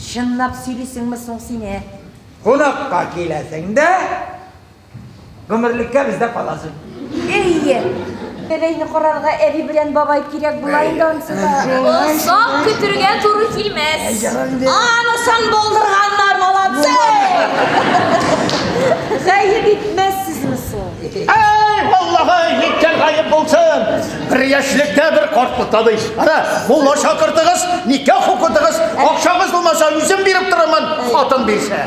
Чынлап сөйлисеңме соң син, ә? Кунакка киләсең дә, гомерлеккә бездә каласың. Әйе. Бәбәйне карарга әби белән бабай кирәк була инде ансы да. Озак көтергә туры килмәс. Анысын булдырганнар, молодцы! Гаеп итмәссезме соң? Әй, Аллаһы, ниткән гаеп булсын! Бер яшьлектә бер картлыкта ди. Ана, мулла чакыртыгыз, никах укытыгыз, акчагыз булмаса, үзем биреп торырмын, хатын бирсә.